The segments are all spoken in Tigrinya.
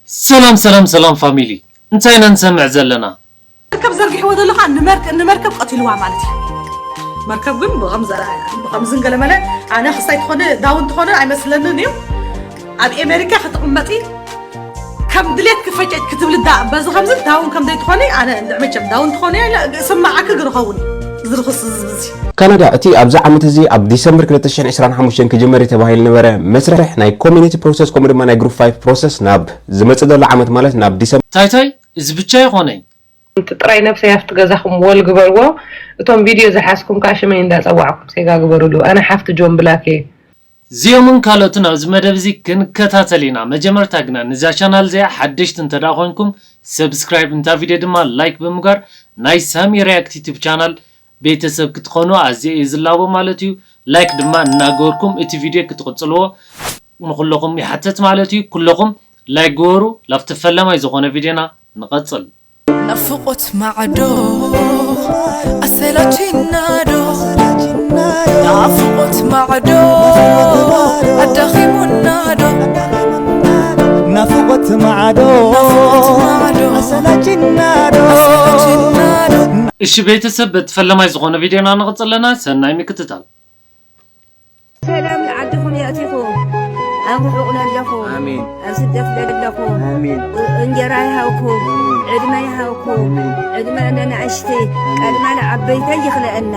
ሰላም ሰላም ሰላም ፋሚሊ እንታይ ኢና ንሰምዕ ዘለና። መርከብ ዘርጊሕዎ ዘሎ ከኣ ንመርከብ ቀቲልዋ ማለት እዩ። መርከብ ግን ብኸምዝን ገለመለ ኣነ ክሳይ ትኾነ ዳውን ትኾነ ኣይመስለንን እዩ ኣብ ኤሜሪካ ክትቕመጢ ከም ድሌት ክፈጨጭ ክትብል ዳ በዚ ከምዚ ዳውን ከም ዘይትኾኒ ኣነ እንድዕ መቸም ዳውን ትኾኒ ስማዓኪ ግርኸውን ዝርኽስ ዝብዚ ካናዳ እቲ ኣብዚ ዓመት እዚ ኣብ ዲሰምበር ክልተ ሽሕን ዕስራን ሓሙሽተን ክጅመር እዩ ተባሂሉ ዝነበረ መስርሕ ናይ ኮሚኒቲ ፕሮሰስ ከምኡ ድማ ናይ ግሩፕ ፋይፍ ፕሮሰስ ናብ ዝመጽእ ዘሎ ዓመት ማለት ናብ ዲሰምበር ታይ ታይ እዚ ብቻ ይኾነይ። ሓንቲ ጥራይ ነብሰይ ኣብቲ ገዛኹም ወል ግበርዎ እቶም ቪድዮ ዝሓዝኩም ከኣ ሽመይ እንዳ ጸዋዕኩም ሴጋ ግበሩሉ ኣነ ሓፍቲ ጆን ብላክ እየ። ዚኦምን ካልኦትን ኣብዚ መደብ እዚ ክንከታተል ኢና መጀመርታ ግና ንዛ ቻናል እዚኣ ሓደሽቲ እንተ ደኣ ኮንኩም ሰብስክራይብ ንታ ቪድዮ ድማ ላይክ ብምግባር ናይ ሳሚ ሪያክት ዩቱብ ቻናል ቤተሰብ ክትኾኑ ኣዝየ እየ ዝላቦ ማለት እዩ ላይክ ድማ እናገበርኩም እቲ ቪድዮ ክትቕጽልዎ ንኹለኹም ይሓትት ማለት እዩ ኩለኹም ላይክ ግበሩ ላብቲ ፈላማይ ዝኾነ ቪድዮና ንቐጽል። ናፍቆት ማዕዶ ኣሰላቺናዶ ናፍቆት ማዕዶ ኣዳኺሙናዶ ናፍቆት ማዕዶ ኣሰላቺናዶ እሺ ቤተሰብ በቲ ፈለማይ ዝኾነ ቪድዮና ንቕፅል ኣለና ሰናይ ምክትታል። ሰላም ንዓድኹም የእቲኹም ኣብ ርሑቕ ለለኹም ኣብ ስደት ለለኹም እንጀራ ይሃብኩም ዕድመ ይሃብኩም ዕድመ ነናእሽቲ ቀድማ ንዓበይተይ ይኽለአና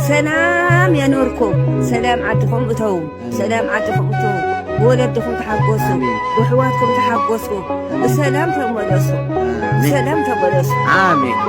ሰላም የኑርኩም ሰላም ዓድኹም እተዉ ብሰላም ዓድኹም እትዉ ብወለድኹም ተሓጎሱ ብሕዋትኩም ተሓጎሱ ብሰላም ተመለሱ ብሰላም ተመለሱ ኣሜን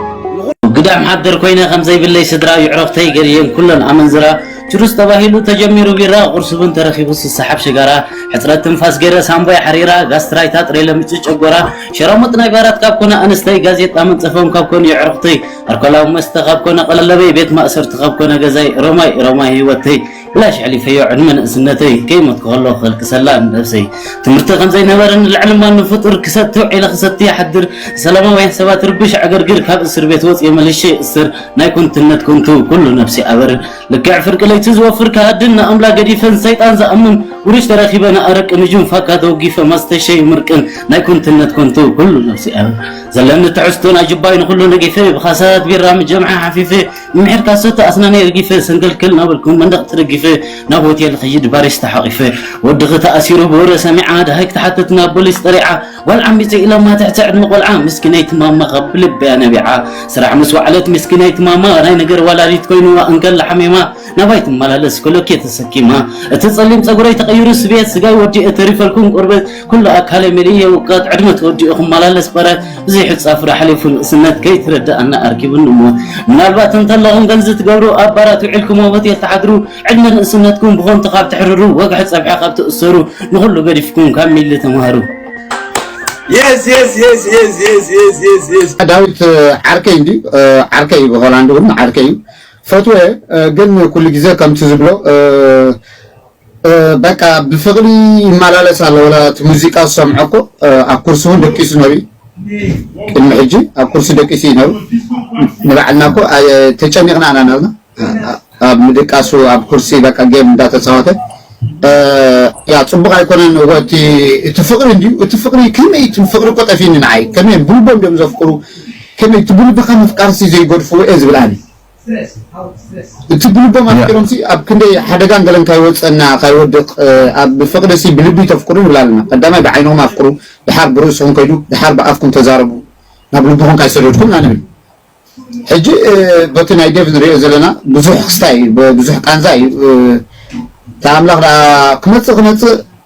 ግዳም ሓደር ኮይነ ከም ዘይብለይ ስድራ ይዕረፍተይ ገርየን ኩለን ኣመንዝራ ችሩስ ተባሂሉ ተጀሚሩ ቢራ ቁርሲ እውን ተረኪቡ ስሰሓብ ሽጋራ ሕፅረት ትንፋስ ገይረ ሳምቦይ ሓሪራ ጋስትራይታ ጥሬ ለምጭ ጨጎራ ሸራሙጥ ናይ ባራት ካብ ኮነ ኣንስተይ ጋዜጣ መንፀፎም ካብ ኮነ ይዕርኽተይ ኣልኮላዊ መስተ ካብ ኮነ ቀለለበይ ቤት ማእሰርቲ ካብ ኮነ ገዛይ ሮማይ ሮማይ ህይወተይ ብላሽ ኣሕሊፈዮ ዕድመ ንእስነተይ ከይሞትኩ ከለኹ ከልቅሰላ ንነብሰይ ትምህርቲ ከምዘይነበረ ንልዕሊ ማንም ፍጡር ክሰቲ ውዒለ ክሰቲ ይሓድር ሰላማውያን ሰባት ርብሽ ዕግርግር ካብ እስር ቤት ወፅየ መልሸ ይእስር ናይ ኮንትነት ኮንቱ ኩሉ ነብሲ ኣበር ልክዕ ፍርቂ ለይቲ ዝወፍር ከሃድን ንኣምላ ገዲፈን ሰይጣን ዝኣምን ውርሽ ተረኪበ ንኣረቂ ንጁን ፋካ ተወጊፈ ማስተሸይ ምርቅን ናይ ኮንትነት ኮንቱ ኩሉ ነብሲ ኣበር ዘለኒ ትሕዝቱን ኣጅባይ ንኩሉ ነጊፈ ብኻሳት ቢራ ምጀምዓ ሓፊፈ ምሒር ካሰት ኣስናነይ እርጊፈ ሰንከልከል ናበልኩ መንደቕ ተደጊፈ ናብ ሆቴል ኽይድ ባሪስ ተሓቒፈ ወድኺ ተኣሲሩ ብወረ ሰሚዓ ደሃይ ክትሓትት ናብ ቦሊስ ጠሪዓ ጓል ዓሚፀ ኢሎማ ትሕቲ ዕድመ ቆልዓ ምስኪነይቲ ማማ ካብ ብልበያ ነቢዓ ስራሕ ምስ ወዓለት ምስኪነይቲ ማማ ናይ ነገር ዋላዲት ኮይኑዋ እንከላ ሓሚማ ናባይ ትመላለስ ኮሎኬ ተሰኪማ እቲ ፀሊም ፀጉረይ ተቐይሩ ስብየት ስጋይ ወዲኤ ተሪፈልኩም ቆርበት ኩሉ ኣካለ መሊኤ ውቀት ዕድመ ተወዲኡ ክመላለስ በረት ዘይሕጻፍ ራሕሊፉ ንእስነት ከይትርድኣና ኣርኪቡኒ እሞ ምናልባት እንተለኹም ከምዚ ትገብሩ ኣብ ባራት ውዒልኩሞ ሆቴል ትሓድሩ ዕድመ ንእስነትኩም ብኾንቱ ካብ ትሕርሩ ወግሒ ጸብሒ ካብ ትእሰሩ ንኹሉ ገዲፍኩም ካብ ሚሊ ተማሃሩ ዳዊት ዓርከይ እንዲ ዓርከይ ብሆላንድ እውን ዓርከይ እዩ ፈትወ ግን ኩሉ ግዜ ከምቲ ዝብሎ በቃ ብፍቅሪ ይመላለስ ኣሎ ወላ እቲ ሙዚቃ ዝሰምዖ እኮ ኣብ ኩርሲ እውን ደቂሱ ነሩ ቅድሚ ሕጂ ኣብ ኩርሲ ደቂሱ እዩ ነሩ ንባዕልና እኮ ተጨኒቕና ኢና ነርና ኣብ ምድቃሱ ኣብ ኩርሲ በቃ ጌም እንዳተፃወተ ያ ፅቡቅ ኣይኮነን እቲ እቲ ፍቅሪ እንድዩ እቲ ፍቅሪ ከመይ እቲ ፍቅሪ እኮ ጠፊኒ ንዓይ ከመይ ብልቦም ድዮም ዘፍቅሩ ከመይ እቲ ብልብካ ምፍቃርሲ ዘይገድፍዎ እየ ዝብል ኣነ እቲ ብልቦም ኣፍቂሮምሲ ኣብ ክንደይ ሓደጋን ገለን ካይወጽእና ካይወድቅ ኣብ ፍቅድሲ ብልቢ ተፍቅሩ ንብል ኣለና ቀዳማይ ብዓይንኹም ኣፍቅሩ ድሓር ብርእስኹም ከይዱ ድሓር ብኣፍኩም ተዛረቡ ናብ ልብኹም ካይሰደድኩም ኢና ንብል ሕጂ በቲ ናይ ዴቭ ንርእዮ ዘለና ብዙሕ ክስታይ እዩ ብዙሕ ቃንዛ እዩ እታ ኣምላኽ ድኣ ክመጽእ ክመጽእ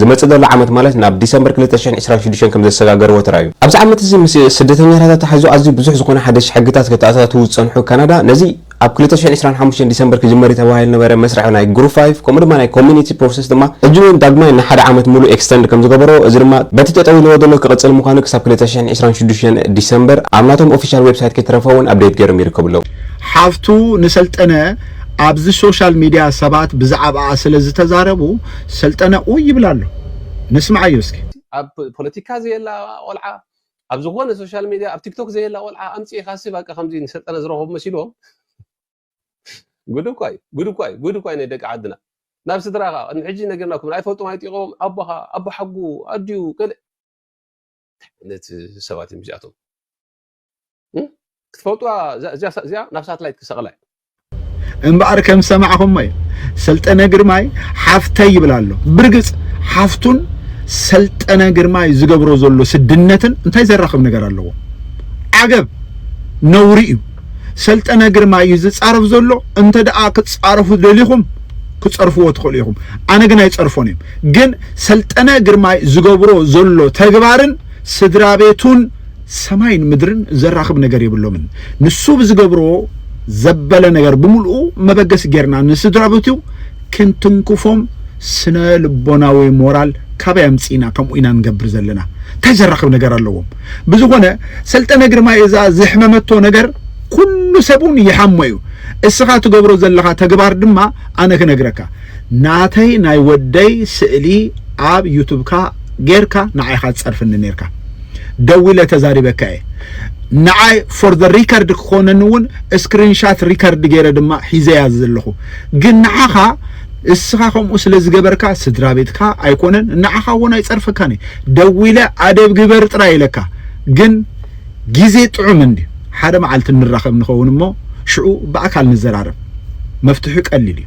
ዝመጽእ ዘሎ ዓመት ማለት ናብ ዲሰምበር ክልተ ሽሕን ዕስራን ሽዱሽተን ከም ዘሰጋገርዎ ተራእዩ። ኣብዚ ዓመት እዚ ምስ ስደተኛታት ኣተሓሒዙ ኣዝዩ ብዙሕ ዝኾነ ሓደሽቲ ሕግታት ከተኣታትው ዝጸንሑ ካናዳ፣ ነዚ ኣብ ክልተ ሽሕን ዕስራን ሓሙሽተን ዲሰምበር ክጅመር እዩ ተባሂሉ ዝነበረ መስርሕ ናይ ግሩፕ ፋይቭ ከምኡ ድማ ናይ ኮሚኒቲ ፕሮሰስ ድማ ሕጂ እውን ዳግማይ ንሓደ ዓመት ምሉእ ኤክስተንድ ከም ዝገበሮ እዚ ድማ በቲ ጠጠው ኢልዎ ዘሎ ክቕጽል ምዃኑ ክሳብ ክልተ ሽሕን ዕስራን ሽዱሽተን ዲሰምበር ኣብ ናቶም ኦፊሻል ዌብሳይት ከይተረፈ እውን ኣብዴት ገይሮም ይርከቡ ኣለው። ሓፍቱ ንሰልጠነ ኣብዚ ሶሻል ሚድያ ሰባት ብዛዕብኣ ስለ ዝተዛረቡ ሰልጠነ ኡይ ይብል ኣሎ ነስምዓዮ እስኪ። ኣብ ፖለቲካ ዘየላ ቆልዓ ኣብ ዝኾነ ሶሻል ሜድያ ኣብ ቲክቶክ ዘየላ ቆልዓ ኣምጺኢኻሲ ባቃ ከምዚ ንሰልጠነ ዝረኸቡ መሲልዎም ጉድ እኳ እዩ ጉድ እኳ እዩ ጉድ እኳ እዩ ናይ ደቂ ዓድና ናብ ስድራኻ ቅድሚ ሕጂ ነገርናኩም ኣይፈልጡም ኣይጢቖም ኣቦኻ ኣቦ ሓጉ ኣዲኡ ገለ ዓይነት ሰባት እዮም እዚኣቶም ክትፈልጡዋ እዚኣ ናብ ሳትላይት ክሰቕላ እዩ እምበኣር ከም ሰማዕኹሞ እዩ ሰልጠነ ግርማይ ሓፍተይ ይብል ኣሎ ብርግፅ ሓፍቱን ሰልጠነ ግርማይ ዝገብሮ ዘሎ ስድነትን እንታይ ዘራኽብ ነገር ኣለዎ ዓገብ ነውሪ እዩ ሰልጠነ ግርማይ እዩ ዝፃረፍ ዘሎ እንተ ደኣ ክትፃረፉ ደሊኹም ክፀርፍዎ ትኽእሉ ኢኹም ኣነ ግን ኣይፀርፎን እዮም ግን ሰልጠነ ግርማይ ዝገብሮ ዘሎ ተግባርን ስድራ ቤቱን ሰማይን ምድርን ዘራኽብ ነገር የብሎምን። ንሱ ብዝገብሮ ዘበለ ነገር ብምልኡ መበገሲ ጌርና ንስድራቤቱ ክንትንክፎም ስነ ልቦናዊ ሞራል ካበይ ኣምጺእና ከምኡ ኢና ንገብር ዘለና እንታይ ዘራኽብ ነገር ኣለዎም ብዝኾነ ሰልጠነ ግርማይ እዛ ዝሕመመቶ ነገር ኩሉ ሰብ እውን ይሓሞ እዩ እስኻ ትገብሮ ዘለኻ ተግባር ድማ ኣነ ክነግረካ ናተይ ናይ ወደይ ስእሊ ኣብ ዩቱብካ ጌርካ ንዓይኻ ትጸርፍኒ ኔርካ ደዊለ ተዛሪበካ እየ ንዓይ ፎር ዘ ሪከርድ ክኾነኒ እውን ስክሪንሻት ሪከርድ ገይረ ድማ ሒዘያ ዘለኹ ግን ንዓኻ እስኻ ከምኡ ስለ ዝገበርካ ስድራ ቤትካ ኣይኮነን ንዓኻ እውን ኣይፀርፈካን እዩ ደዊለ ኣደብ ግበር ጥራይ ኢለካ ግን ግዜ ጥዑም እንድዩ ሓደ መዓልቲ ንራኸብ ንኸውን እሞ ሽዑ ብኣካል ንዘራረብ መፍትሒ ቀሊል እዩ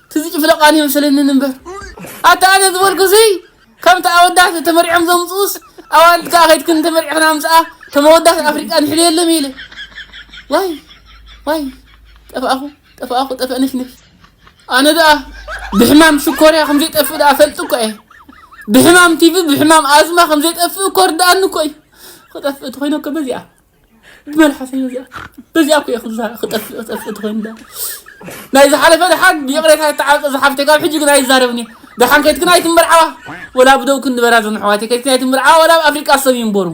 ትዝ ጭፍለቃን የምስለንን እምበር ኣታ ኣነ ዝበልኩስይ ከምቲ ኣወዳት ተመሪዖም ዘምፅኡስ ኣዋልድ ከዓ ከይድክን ተመሪዕክን ኣምፅኣ ከም ኣወዳት ኣፍሪቃ ንሕልየሎም ኢለ ዋይ ዋይ ጠፋእኹ ጠፋእኹ ጠፈእ ነሽነሽ ኣነ ደኣ ብሕማም ሽኮርያ ከም ዘይጠፍእ ደኣ ፈልጥ እኳ እየ ብሕማም ቲቪ ብሕማም ኣዝማ ከም ዘይጠፍእ እኮ ርድኣኒ እኮ እዩ ክጠፍእ እቲ ኮይነ እኮ በዚኣ መልሓሰኛ እዚኣ በዚኣ እኮ ኢኹም ክጠፍእ ክጠፍእ ትኾይንዳ ናይ ዝሓለፈ ድሓን ይቕሬታ ይተዓፀ ዝሓፍተ ካብ ሕጂ ግን ኣይዛረብን እየ ድሓን ከይትክን ኣይትምርዓዋ ወላ ብደው ክንበራ ዞም ኣሕዋተይ ከይትክን ኣይትምርዓዋ ወላ ኣብ ኣፍሪቃ ሰብ ይንበሩ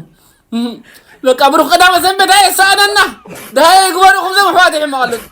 በቃ ብሩኽ ቀዳመ ሰንበት ኣየ ሰኣነና ድሃየ ይግበርኹም ዞም ኣሕዋተይ ሕማቕ ኣለኩም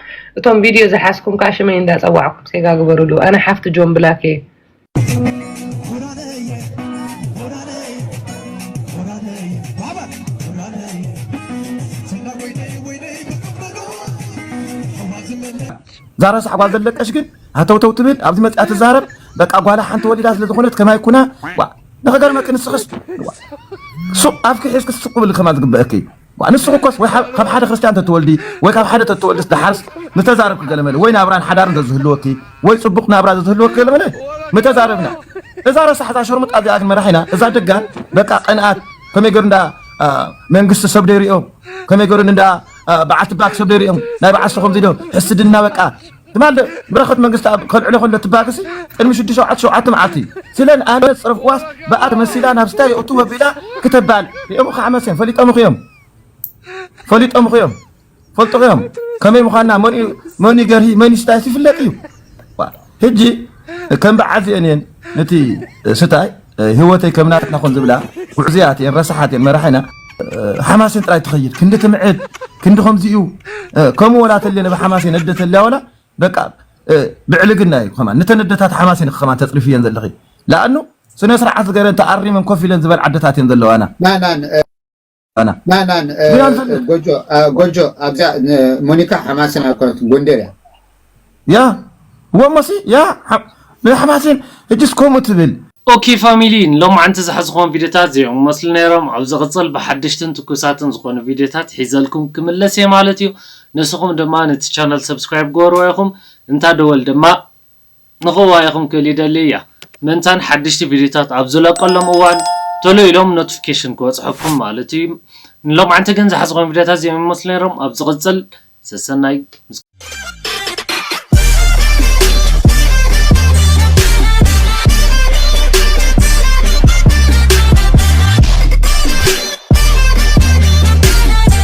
እቶም ቪድዮ ዝሓዝኩም ከዓ ሽመይ እንዳፀዋዕኩም ሴጋ ግበርሉ ኣነ ሓፍቲ ጆን ብላክ እየ ዛራ ሳዕባ ዘለቀሽ ግን ሃተውተው ትብል ኣብዚ መፅኣ ትዛረብ በቃ ጓላ ሓንቲ ወሊዳ ስለ ዝኾነት ከማይ ኩና ንኸገርመኪ ንስኽስ ሱቕ ኣፍኪ ሒዝኪ ስቕ ብሊ ከማ ዝግበአኪ እዩ ንስኺ እኮስ ወይ ካብ ሓደ ክርስትያን ተትወልዲ ወይ ካብ ሓደ ተትወልድስ ደሓርስ ምተዛረብኪ ገለመለ ወይ ናብራን ሓዳርን ዘዝህልወኪ ወይ ጽቡቕ ናብራ ዘዝህልወኪ ገለመለ ምተዛረብና እዛ ረሳሕ እዛ ሸርሙጣ እዚኣ ግን መራሒና እዛ ደጋ በቃ ቀንኣት ከመይ ገሩ እንዳ መንግስቲ ሰብ ደይሪኦም ከመይ ገሩ እንዳ በዓልቲ ባክ ሰብ ደይሪኦም ናይ በዓል ሰኹም ዚዶ ሕስድና በቃ ትማል በረኸት መንግስትኣብ ከልዕሎ ከሎ ትባግሲ ቅድሚ ሽዱሽተ ሸውዓተ ሸውዓተ መዓልቲ እዩ ስለ ንኣነት ጽረፍ ዋስ ብኣ ተመሲላ ናብ ስታ የእቱ ወቢላ ክተባል ሪኦም ከዓ መሰም ፈሊጦም ኹዮም ፈሊጦም ኹዮም ፈልጡ ኹዮም ከመይ ምዃንና መን ገርሂ መን ስታይስ ይፍለጥ እዩ ህጂ ከም በዓል እዚኤን እየን ነቲ ስታይ ህይወተይ ከም ናትና ኮን ዝብላ ጉዕዝያት እየን ረሳሓት እየን መራሒና ሓማሴን ጥራይ ትኸይድ ክንዲ ትምዕድ ክንዲ ከምዚ እዩ ከምኡ ወላ ተልየ ነብ ሓማሴን ነደ ተልያ ወላ በቃ ብዕልግና እዩ ከማን ነተን ኣደታት ሓማሴን ከማን ተፅሪፍ እየን ዘለኺ ለኣኑ ስነ ስርዓት ገረን ተኣሪመን ኮፍ ኢለን ዝበል ዓደታት እየን ዘለዋና ኣና ናናን ጎጆ ጎጆ ኣብዛ ሞኒካ ሓማስን ኣኮነት ጎንደር እያ ያ ወሞሲ ያ ሓማስን እጅስ ከምኡ ትብል ኦኬ ፋሚሊ ንሎምዓንቲ ዝሓዝኹዎም ቪድዮታት እዚኦም ክመስሉ ነይሮም ኣብ ዝቕፅል ብሓደሽትን ትኩሳትን ዝኾኑ ቪድዮታት ሒዘልኩም ክምለስ እየ ማለት እዩ ንስኹም ድማ ነቲ ቻናል ሰብስክራይብ ግበርዎ ኢኹም እንታ ደወል ድማ ንክዋየኹም ክል ይደሊ እያ ምእንታን ሓድሽቲ ቪድዮታት ኣብ ዝለቀሎም እዋን ቶሎ ኢሎም ኖትፍኬሽን ክበጽሐኩም ማለት እዩ ንሎምዓንቲ ግን ዝሓዝኹም ቪድዮታት እዚኦም ይመስሉ ነይሮም ኣብ ዝቅጽል ሰሰናይ